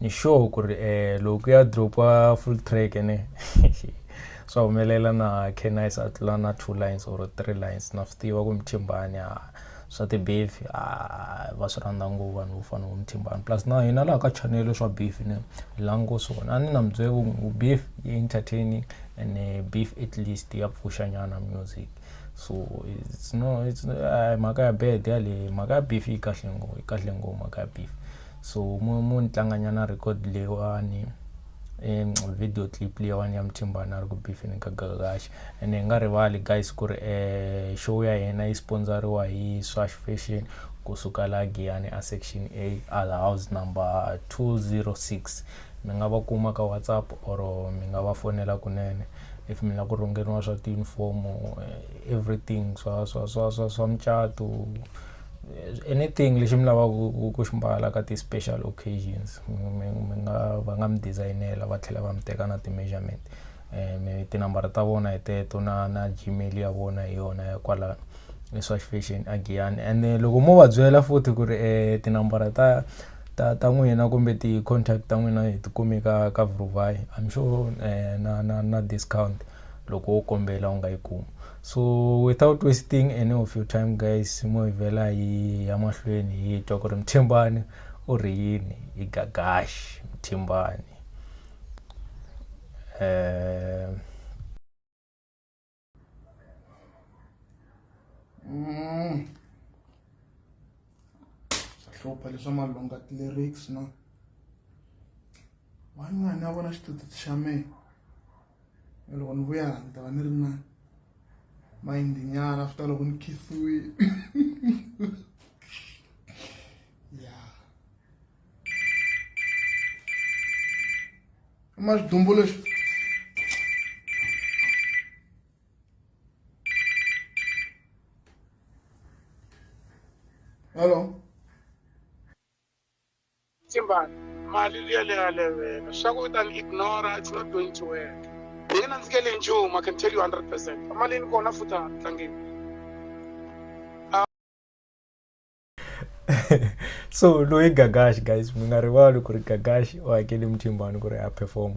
ni sure ku ri loko ya dropiwa full track ene swa humelela na Canis a tlula na two lines or three lines na swi tiva ku Mthimbani a swa ti-beef a va swi rhandza ngopfu vanhu vo fana vo Mthimbani plus na hina laha ka chanele swa beef ni hi la ngo swona a ni na mi byela ku beef yi entertaining ene beef at least ya pfuxa nyana music so it's no it's mhaka ya bad yaleyo mhaka ya beef yi kahle ngopfu yi kahle ngopfu mhaka ya beef. so mu mu ni tlanganyana record leyiwani um video clip leyiwani ya muthimbana a ri ku bifini ka gagaxi and hi nga rivali guys ku ri um show ya hina yi sponsoriwa hi swash fashion kusuka la giyani a section a al house number 206 mi nga va kuma ka whatsapp or mi nga va fonela kunene if mi lava ku rhungeriwa swa tiunifomo eh, everything swa swa swa swa swa mucato anything lexi mi lavaka ku xi mbala ka ti-special occasions mi mi nga va nga mi dizayinela va tlhela va mi teka na ti-measurement mi tinambara ta vona hi teto na na Gmail ya vona hi yona ya kwalano i swa fashion a giyani ene loko mo va byela futhi ku ri tinambara ta ta ta n'wina kumbe ti-contact ta n'wina hi ti kumi ka ka Vhuruvhayi I'm sure na na na discount loko wo kombela u nga yi kumi. so without wasting any of your time guys mo hi vhela hi ya mahlweni hi twa ku ri mthimbani u ri yini hi gagaxi mthimbani um Mm. hlupha leswa malunga ti-lyrics no van'wana ya vona xitututi xa mina and loko ni vuya ni ta va ni ri na mayindi nyana after loko ni khifiwile ya ma xidumbu lexi hello Tsimbani. Mali liya leyi ya levela. Swa ku u ta ni ignora, it's not going to work. Hi nge nandzikeli nchumu, I can tell you 100 percent. Emalini kona futhi a tlangeni. so loyi gagashi guys mi nga rivali ku ri gagashi u hakele muthimbani ku ri a performa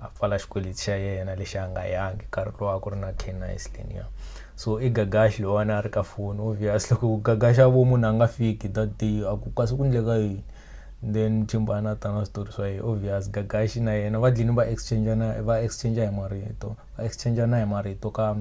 a pfala xikweleti xa yena lexi a nga yangi nkarhi lowu a ku ri na Kena Islenia so i gagaxi loyiwani a ri ka foni obvious loko ku gagaxa vo munhu a nga fiki that day a ku kasi ku ndleka yini then chimbana a ta na switori swa yena obvious gagaxi na yena va dlini va exchange na va exchange hi marito va exchange na hi marito ka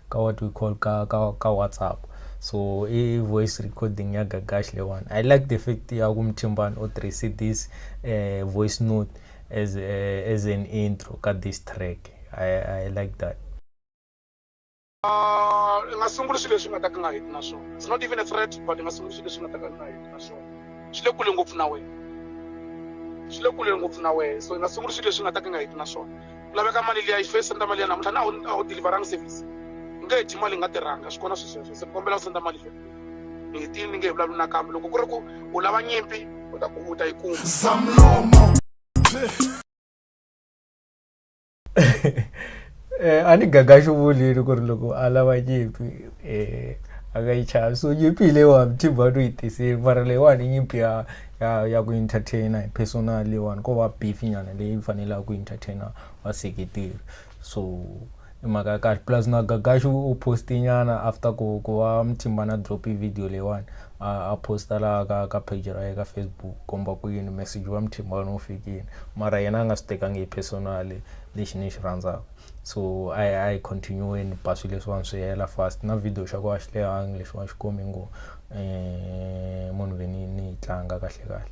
ka what we call ka ka ka whatsapp so i voice recording ya gagaxi leyiwani i like the fact ya ku muchimbani u tirhise this um voice note As uh, as an intro ka this track. I I like that. Ah, i nga sunguli swilo leswi nga ta ka nga heti na swona it's not even a threat but i nga sunguli swilo leswi nga ta ka nga heti na swona swi le kule ngopfu na wena swi le kule ngopfu na wena so i nga sunguli swilo leswi nga ta ka nga heti na swona ku laveka mali liya yi fe senda mali ya namuntlha na a wu deliveranga service i nge heti mali nga tirhanga swi kona swi sweswo se kombela ku senda mali ni ti ni nge hi vulavuli nakambe loko ku ri ku u lava nyimpi u ta ku u ta yi kuma zamlomo eh, a ni gaga xivulini ku ri loko a lava nyimpi eh, a nga yi chavi so nyimpi hi leyiwa mthimba no yi tiseli mara leyiwani nyimpi ya ya ya ku entertaina hi personal leyiwani ko va beef nyana leyi fanelaka ku entertaina vaseketeri so i mhaka ya kahle plus na gagaxi u poste nyana after ku ku va mthimba na drop video leyiwani a posta laha ka ka page ra ye ka facebook komba ku yini message wa mthimba wena wu fikile mara yena a nga swi tekangi hi personally lexi ni xi rhandzaka so a hi a hi continue-weni ba swilo leswiwani swi hela fast na video xa ku a xi lehangi lexiwani xi komi ngo um munhu ve ni ni yi tlanga kahle kahle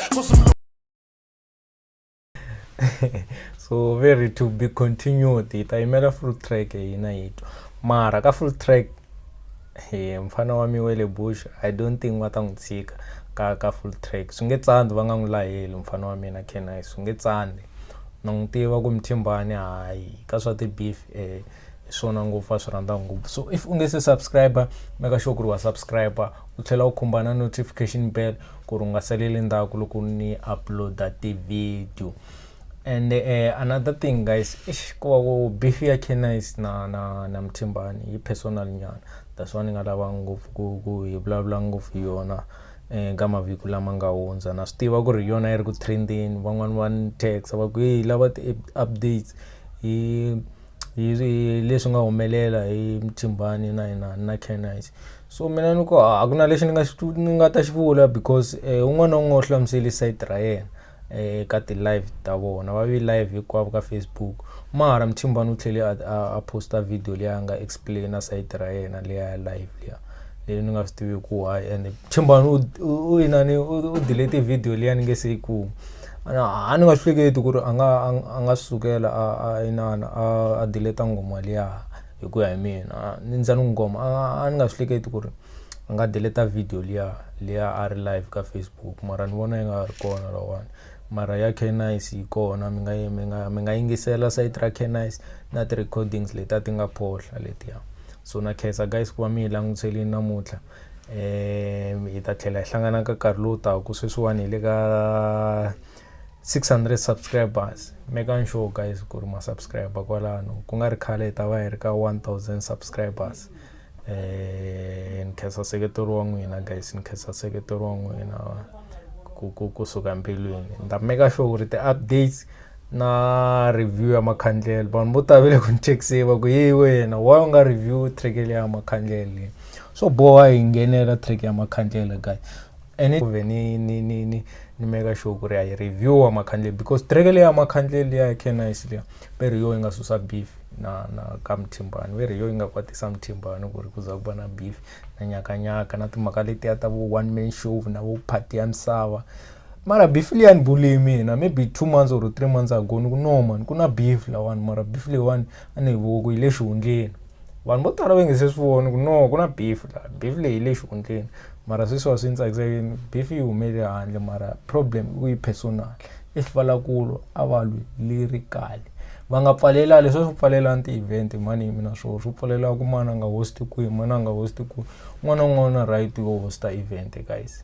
so very to be continued hi ta yimela full track hina yi twa mara ka full track hi mfana wa miwele bush i don't think va ta n'wi tshika ka ka full track swi nge tsandi va nga n'wi laheli mfana wa mina kni swi nge tsandi na n'wi tiva ku mthimbani hayi ka swa ti-beef um hi swona ngopfu a swi rhandza ngopfu so if u nge se subscriber meka sure ku ri wa subscriber u tlhela u khumba na notification bell ku ri u nga saleli ndzhaku loko ni uploada ti-video and uh, another thing guys ish ko va ku beef ya canice na na na mthimbani yi personal nyana that's why ni nga lava ngopfu ku ku hi vulavula ngopfu hi yona um ka mavhiki lama nga hundza na swi tiva ku ri yona yi ri ku trendeni van'wani va ni taxa va ku yi lava ti-updates hi hi ri leswi nga humelela hi Mthimbani na inani na Canines so mina ni ku a ku na lexi ni nga xi ni nga ta xi vula because un'wana na un'wana u hlamusele side ra yena eka ti-live ta vona va ve live hinkwavo ka Facebook mara Mthimbani u tlhele a post-a video leyi a nga explain-a side ra yena leyi a ya live liya leyi ni nga swi tiviku why and Mthimbani u inani u delete video liya ni nge se yi kuma. a ni nga swi hleketi ku ri a nga a nga sukela a a inana a a dileta ngoma liya hi ku ya hi mina ni ndza ni ngoma a ni nga swi hleketi ku ri a nga dileta video liya liya a ri live ka facebook mara ni vona yi nga ha ri kona lawani mara ya canice yi kona mi nga mi nga mi nga yingisela sayiti ra canice na ti-recordings leti a ti nga phohla letiya so na khensa guys ku va mi hi langutiselini namuntlha um hi ta tlhela hi hlangana ka nkarhi lowu taka sweswiwani hi le ka 600 subscribers making sure guys ku ri masubscriber kwalano ku nga ri khale hi ta va hi ri ka 1000 subscribers eh ni khensa seketelo wa n'wina guys ni khensa seketelo wa n'wina ku ku kusuka mbilwini ni ta maker sure ku ri ti-updates na review ya makhandlela vanhu vo tala va le ku ni chekiseni va ku yeyi wena wa u nga review track leya ya makhandlela leyi swo boha hi nghenela track ya makhandlela guy and ku ve ni ni ni ni ni meka sure ku ri a yi review wa makhandlela because track leya ya makhandlela leya canice leya ve ri yo yi nga susa beef na na ka muthimbani ve ri yo yi nga kwatisa muthimbani ku ri ku za ku va na beef na nyakanyaka na timhaka letiya ta vo one man show na vo party ya misava mara beef liya ni bule mina maybe two months or three months ago ni ku no mani ku na beef lawani mara beef leyiwani a ni yi voku yi le xihundleni vanhu vo tala va nge se swi voni ku no ku na beef la beef leyi yi le xihundleni mara sweswiwa swi ni tsakisa yini beef yi humele handle mara problem i ku yi personal if va lava ku lwa a va lwi li ri kale va nga pfalela leswi swi pfalelani ti-event mani yimi na swona swi pfalelaka ku mani a nga hosti kwihi mani a nga hosti kwihi un'wana na un'wana u na right yo hosta event guys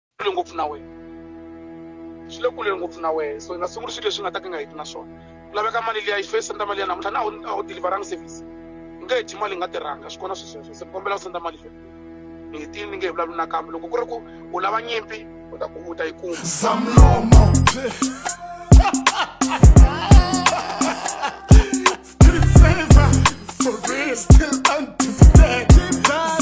kule ngopfu na wena swi le kule ngopfu na wena so i nga sunguli swilo leswi nga ta ka nga heti na swona ku laveka mali liya yi fesa nda mali ya namuntlha na a wu deliveranga service u nge heti mali yi nga tirhanga swi kona swisweswo se kombela u senda mali fe ni hetini ni nge hi vulavuli nakambe loko ku ri ku u lava nyimpi u ta ku u ta yi kuma zamlomo